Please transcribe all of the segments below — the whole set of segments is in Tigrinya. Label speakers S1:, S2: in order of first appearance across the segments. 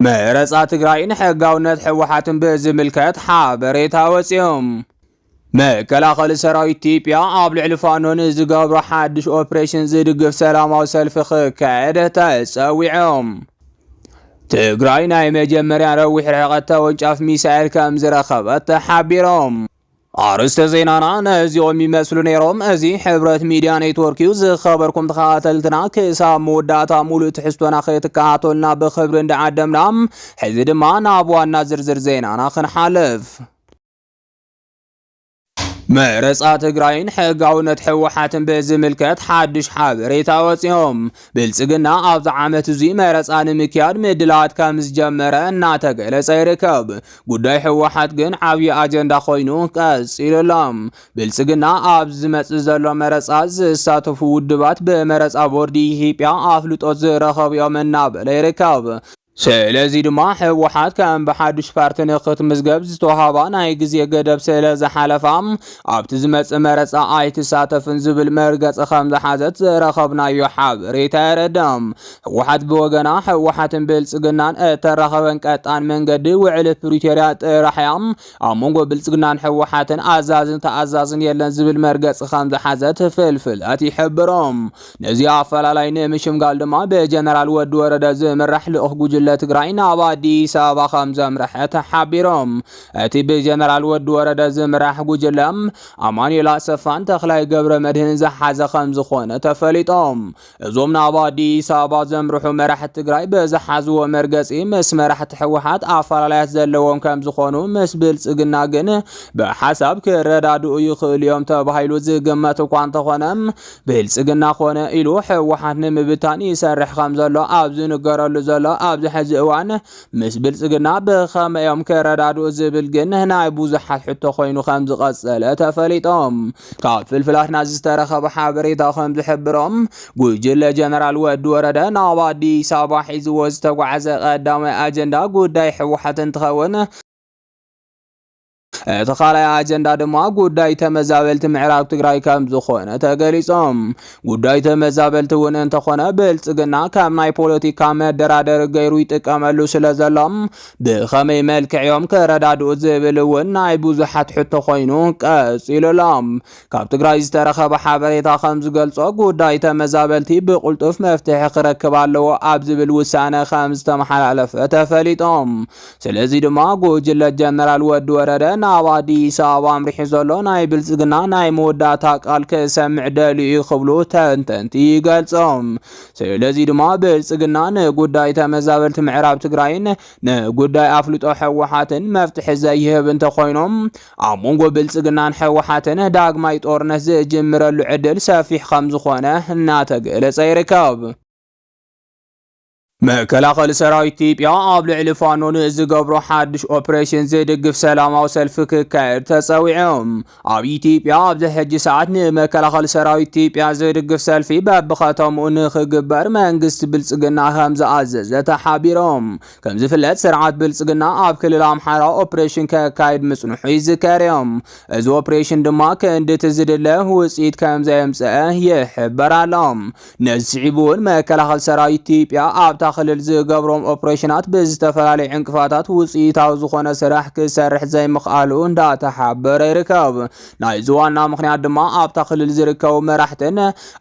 S1: መረፃ ትግራይን ሕጋውነት ህወሓትን ብዝምልከት ሓበሬታ ወፂኡ። መከላኸሊ ሰራዊት ኢትዮጵያ ኣብ ልዕሊ ፋኖ ንዝገብሮ ሓድሽ ኦፕሬሽን ዝድግፍ ሰላማዊ ሰልፊ ክካየድ ተፀዊዑ። ትግራይ ናይ መጀመርያ ነዊሕ ርሕቐት ተወንጫፍ ሚሳኤል ከምዝረኸበት ተሓቢሩ። ኣርእስተ ዜናና ነዚኦም ይመስሉ ነይሮም። እዚ ሕብረት ሚድያ ኔትወርክ እዩ። ዝኸበርኩም ተኸታተልትና ክሳብ መወዳእታ ሙሉእ ትሕዝቶና ክትከታተሉና ብክብሪ እንዳዓደምና ሕዚ ድማ ናብ ዋና ዝርዝር ዜናና ክንሓልፍ። መረፃ ትግራይን ሕጋውነት ህወሓትን ብዝምልከት ሓድሽ ሓበሬታ ወፂኦም። ብልፅግና ኣብዚ ዓመት እዙይ መረፃ ንምክያድ ምድላዋት ከም ዝጀመረ እናተገለፀ ይርከብ። ጉዳይ ህወሓት ግን ዓብዪ ኣጀንዳ ኮይኑ ቀፂሉ ኣሎ። ብልፅግና ኣብ ዝመፅእ ዘሎ መረፃ ዝሳተፉ ውድባት ብመረፃ ቦርዲ ኢትዮጵያ ኣፍልጦት ዝረኸቡ እዮም እናበለ ይርከብ። ስለዚ ድማ ህወሓት ከም ብሓዱሽ ፓርቲ ንክትምዝገብ ዝተዋህባ ናይ ግዜ ገደብ ስለ ዝሓለፋ ኣብቲ ዝመጽእ መረጻ ኣይትሳተፍን ዝብል መርገጺ ከም ዝሓዘት ዝረኸብናዮ ሓበሬታ የረድእ። ህወሓት ብወገና ህወሓትን ብልጽግናን እተራኸበን ቀጣን መንገዲ ውዕሊ ፕሪቶርያ ጥራሕ እያ። ኣብ መንጎ ብልጽግናን ህወሓትን ኣዛዝን ተኣዛዝን የለን ዝብል መርገጺ ከም ዝሓዘት ፍልፍላት ይሕብሮም። ነዚ ኣፈላላይ ንምሽምጋል ድማ ብጀነራል ወዲ ወረደ ዝምራሕ ልኡኽ ጉጅለ ትግራይ ናብ ኣዲስ ኣበባ ከም ዘምርሐ ተሓቢሮም። እቲ ብጀነራል ወዲ ወረደ ዝምራሕ ጉጅለ ኣማኑኤል ኣሰፋን ተኽላይ ገብረ መድህን ዝሓዘ ከም ዝኾነ ተፈሊጦም። እዞም ናብ ኣዲስ ኣበባ ዘምርሑ መራሕቲ ትግራይ ብዝሓዝዎ መርገፂ ምስ መራሕቲ ህወሓት ኣፈላላያት ዘለዎም ከም ዝኾኑ ምስ ብልፅግና ግን ብሓሳብ ክረዳድኡ ይኽእሉ እዮም ተባሂሉ ዝግመት እኳ እንተኾነ ብልፅግና ኮነ ኢሉ ህወሓት ንምብታን ይሰርሕ ከም ዘሎ ኣብ ዝንገረሉ ዘሎ ኣብዚ ሕዚ እዋን ምስ ብልፅግና ብኸመይ እዮም ክረዳድኡ ዝብል ግን ናይ ብዙሓት ሕቶ ኮይኑ ከም ዝቐፀለ ተፈሊጦም። ካብ ፍልፍላትና ዝተረኸበ ሓበሬታ ከም ዝሕብሮ ጉጅለ ጀነራል ወዲ ወረደ ናብ ኣዲስ ኣበባ ሒዝዎ ዝተጓዕዘ ቀዳማይ ኣጀንዳ ጉዳይ ህወሓት እንትኸውን እቲ ካልኣይ ኣጀንዳ ድማ ጉዳይ ተመዛበልቲ ምዕራብ ትግራይ ከም ዝኾነ ተገሊጾም። ጉዳይ ተመዛበልቲ እውን እንተኾነ ብልጽግና ከም ናይ ፖለቲካ መደራደሪ ገይሩ ይጥቀመሉ ስለ ዘሎም ብኸመይ መልክዕ እዮም ከረዳድኡ ዝብል እውን ናይ ብዙሓት ሕቶ ኮይኑ ቀጺሉሎም። ካብ ትግራይ ዝተረኸበ ሓበሬታ ከም ዝገልጾ ጉዳይ ተመዛበልቲ ብቕልጡፍ መፍትሒ ክረክብ ኣለዎ ኣብ ዝብል ውሳነ ከም ዝተመሓላለፈ ተፈሊጦም። ስለዚ ድማ ጉጅለ ጀነራል ወዲ ወረደ ናብ ኣዲስ ኣበባ ኣምሪሑ ዘሎ ናይ ብልጽግና ናይ መወዳእታ ቃል ክሰምዕ ደልዩ እዩ ክብሉ ተንተንቲ ይገልጾም። ስለዚ ድማ ብልጽግና ንጉዳይ ተመዛበልቲ ምዕራብ ትግራይን ንጉዳይ ኣፍልጦ ሕወሓትን መፍትሒ ዘይህብ እንተኾይኖም ኣብ መንጎ ብልፅግናን ህወሓትን ዳግማይ ጦርነት ዝጅምረሉ ዕድል ሰፊሕ ከምዝኾነ እናተገለፀ ይርከብ። መከላኸሊ ሰራዊት ኢትዮጵያ ኣብ ልዕሊ ፋኖ ንዝገብሮ ሓድሽ ኦፕሬሽን ዝድግፍ ሰላማዊ ሰልፊ ክካየድ ተፀዊዑ። ኣብ ኢትዮጵያ ኣብዚ ሕጂ ሰዓት ንመከላኸሊ ሰራዊት ኢትዮጵያ ዝድግፍ ሰልፊ በብኸተምኡ ንክግበር መንግስቲ ብልፅግና ከምዝኣዘዘ ተሓቢሮም። ከምዝፍለጥ ስርዓት ብልፅግና ኣብ ክልል ኣምሓራ ኦፕሬሽን ከካይድ ምፅንሑ ይዝከር እዩ። እዚ ኦፕሬሽን ድማ ክንድቲ ዝድለ ውፅኢት ከምዘየምፀአ ይሕበር ኣሎ። ነዚ ስዒቡ እውን መከላኸሊ ሰራዊት ኢትዮጵያ ኣብታ ክልል ዝገብሮም ኦፕሬሽናት ብዝተፈላለዩ ዕንቅፋታት ውፅኢታዊ ዝኾነ ስራሕ ክሰርሕ ዘይምኽኣሉ እንዳተሓበረ ይርከብ። ናይዚ ዋና ምኽንያት ድማ ኣብታ ክልል ዝርከቡ መራሕትን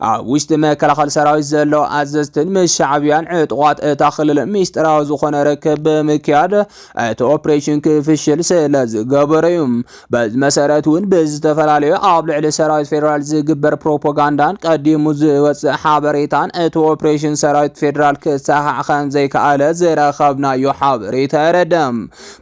S1: ኣብ ውሽጢ መከላኸሊ ሰራዊት ዘለዉ ኣዘዝትን ምስ ሻዕብያን ዕጡቓት እታ ክልል ሚስጢራዊ ዝኾነ ርክብ ብምክያድ እቲ ኦፕሬሽን ክፍሽል ስለ ዝገበሩ እዩ። በዚ መሰረት እውን ብዝተፈላለዩ ኣብ ልዕሊ ሰራዊት ፌዴራል ዝግበር ፕሮፓጋንዳን ቀዲሙ ዝወፅእ ሓበሬታን እቲ ኦፕሬሽን ሰራዊት ፌዴራል ክሰሓዕ ከም ዘይከኣለ ዝረኸብናዮ ሓበሬታ የረድእ።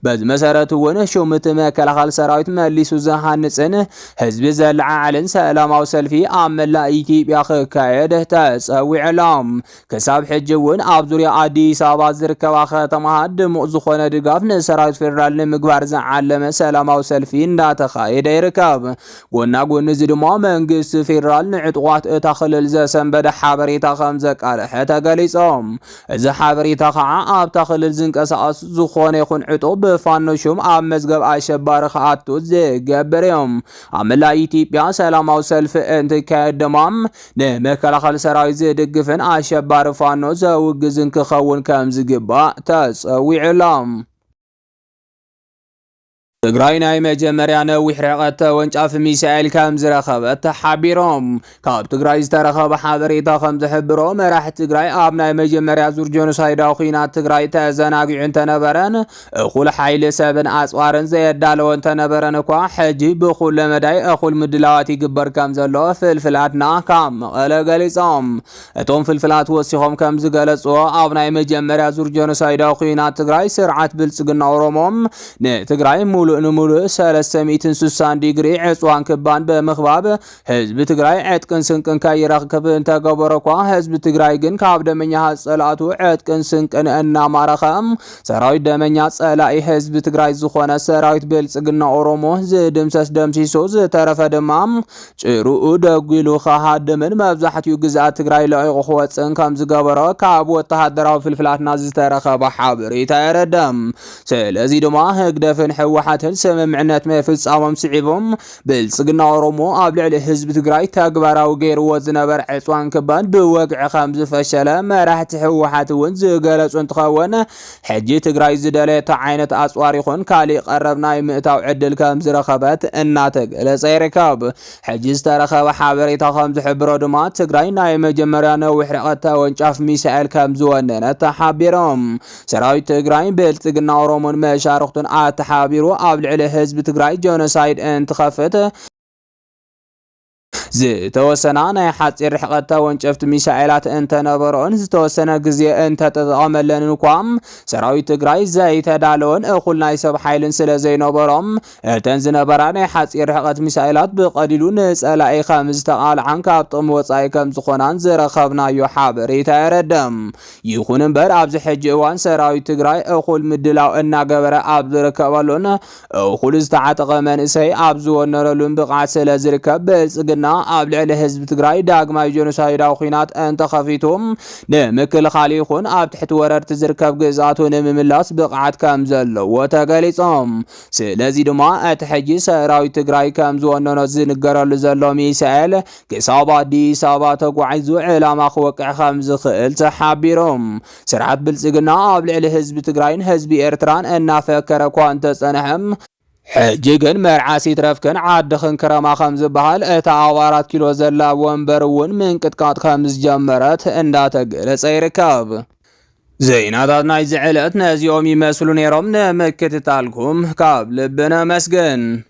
S1: በዚ መሰረት እውን ሹምቲ መከላኸል ሰራዊት መሊሱ ዝሃንፅን ህዝቢ ዘለዓዕልን ሰላማዊ ሰልፊ ኣብ መላእ ኢትዮጵያ ክካየድ ተፀዊዑ ኣሎ። ክሳብ ሕጂ እውን ኣብ ዙሪያ ኣዲስ ኣበባ ዝርከባ ከተማታት ድሙቕ ዝኾነ ድጋፍ ንሰራዊት ፌዴራል ንምግባር ዝዓለመ ሰላማዊ ሰልፊ እንዳተኻየደ ይርከብ። ጎና ጎኒ እዚ ድማ መንግስቲ ፌዴራል ንዕጡቓት እታ ክልል ዘሰንበደ ሓበሬታ ከም ዘቃለሐ ተገሊፆም። እዚ ሓበሬታ ከዓ ኣብታ ክልል ዝንቀሳቐስ ዝኾነ ይኹን ዕጡቕ ብፋኖ ሹም ኣብ መዝገብ ኣሸባሪ ክኣቱ ዝገብር እዩ። ኣብ መላእ ኢትዮጵያ ሰላማዊ ሰልፊ እንትካየድ ድማ ንመከላኸሊ ሰራዊት ዝድግፍን ኣሸባሪ ፋኖ ዘውግዝን ክኸውን ከም ዝግባእ ተጸዊዑ ኣሎ። ትግራይ ናይ መጀመርያ ነዊሕ ርሕቐት ተወንጫፊ ሚሳኤል ከም ዝረኸበት ተሓቢሮም። ካብ ትግራይ ዝተረኸበ ሓበሬታ ከም ዝሕብሮ መራሒ ትግራይ ኣብ ናይ መጀመርያ ዙር ጀኖሳይዳዊ ኩናት ትግራይ ተዘናጊዑ እንተነበረን እኹል ሓይሊ ሰብን ኣፅዋርን ዘየዳለወ እንተነበረን እኳ ሕጂ ብኩለ መዳይ እኹል ምድላዋት ይግበር ከም ዘሎ ፍልፍላትና ካብ መቐለ ገሊፆም። እቶም ፍልፍላት ወሲኾም ከም ዝገለጽዎ ኣብ ናይ መጀመርያ ዙር ጀኖሳይዳዊ ኩናት ትግራይ ስርዓት ብልጽግና ኦሮሞ ንትግራይ ሙሉእ ንሙሉእ 360 ዲግሪ ዕፅዋን ክባን ብምኽባብ ህዝቢ ትግራይ ዕጥቅን ስንቅን ከይረክብ እንተገበሮ እኳ ህዝቢ ትግራይ ግን ካብ ደመኛ ጸላእቱ ዕጥቅን ስንቅን እናማረኸ ሰራዊት ደመኛ ጸላኢ ህዝቢ ትግራይ ዝኾነ ሰራዊት ብልጽግና ኦሮሞ ዝድምሰስ ደምሲሱ ዝተረፈ ድማ ጭርኡ ደጒሉ ክሃድምን መብዛሕትኡ ግዝኣት ትግራይ ለቒቑ ክወፅእን ከምዝገበሮ ካብ ወተሃደራዊ ፍልፍላትና ዝተረኸበ ሓበሬታ የረድእ። ስለዚ ድማ ህግደፍን ህወሓትን ስምምዕነት ምፍፃሞም ስዒቡ ብልፅግና ኦሮሞ ኣብ ልዕሊ ህዝቢ ትግራይ ተግባራዊ ገይርዎ ዝነበረ ዕፅዋን ክባን ብወግዒ ከምዝፈሸለ መራሕቲ ህወሓት እውን ዝገለፁ እንትኸውን ሕጂ ትግራይ ዝደለየቶ ዓይነት ኣፅዋር ይኹን ካሊእ ቀረብ ናይ ምእታው ዕድል ከምዝረኸበት እናተገለፀ ይርከብ። ሕጂ ዝተረኸበ ሓበሬታ ከምዝሕብሮ ድማ ትግራይ ናይ መጀመርያ ነዊሕ ርሕቀት ተወንጫፍ ሚሳኤል ከምዝወነነት ተሓቢሮም። ሰራዊት ትግራይ ብልፅግና ኦሮሞን መሻርኽቱን ኣተሓባቢሩ ኣብ ልዕሊ ህዝቢ ትግራይ ጆኖሳይድ እንትኸፍት ዝተወሰና ናይ ሓፂር ርሕቐት ተወንጨፍቲ ሚሳኤላት እንተነበረኦን ዝተወሰነ ግዜ እንተተጠቐመለንን እኳ ሰራዊት ትግራይ ዘይተዳለወን እኹል ናይ ሰብ ሓይልን ስለ ዘይነበሮም እተን ዝነበራ ናይ ሓፂር ርሕቐት ሚሳኤላት ብቐሊሉ ንፀላኢ ከም ዝተቓልዓን ካብ ጥቕሚ ወፃኢ ከም ዝኾናን ዝረኸብናዮ ሓበሬታ የረድም። ይኹን እምበር ኣብዚ ሕጂ እዋን ሰራዊት ትግራይ እኹል ምድላው እናገበረ ኣብ ዝርከበሉን እኹል ዝተዓጠቐ መንእሰይ ኣብ ዝወነረሉን ብቕዓት ስለ ዝርከብ ብልፅግና ኣብ ልዕሊ ህዝቢ ትግራይ ዳግማይ ጀኖሳይዳዊ ኩናት እንተኸፊቱ ንምክልኻል ይኹን ኣብ ትሕቲ ወረርቲ ዝርከብ ግዝኣቱ ንምምላስ ብቕዓት ከም ዘለዎ ተገሊፆም። ስለዚ ድማ እቲ ሕጂ ሰራዊት ትግራይ ከም ዝወነኖ ዝንገረሉ ዘሎ ሚሳኤል ክሳብ ኣዲስ ኣበባ ተጓዒዙ ዕላማ ክወቅዕ ከም ዝኽእል ተሓቢሮም። ስርዓት ብልፅግና ኣብ ልዕሊ ህዝቢ ትግራይን ህዝቢ ኤርትራን እናፈከረ እኳ እንተፀንሐ፣ ሕጂ ግን መርዓስ ይትረፍክን ዓድኽን ክረማ ከምዝበሃል እታ ኣብ ኣራት ኪሎ ዘላ ወንበር እውን ምንቅጥቃጥ ከምዝጀመረት እንዳተገለፀ ይርከብ። ዜናታት ናይዚ ዕለት ነዚኦም ይመስሉ ነይሮም። ንምክትታልኩም ካብ ልቢ ነመስግን።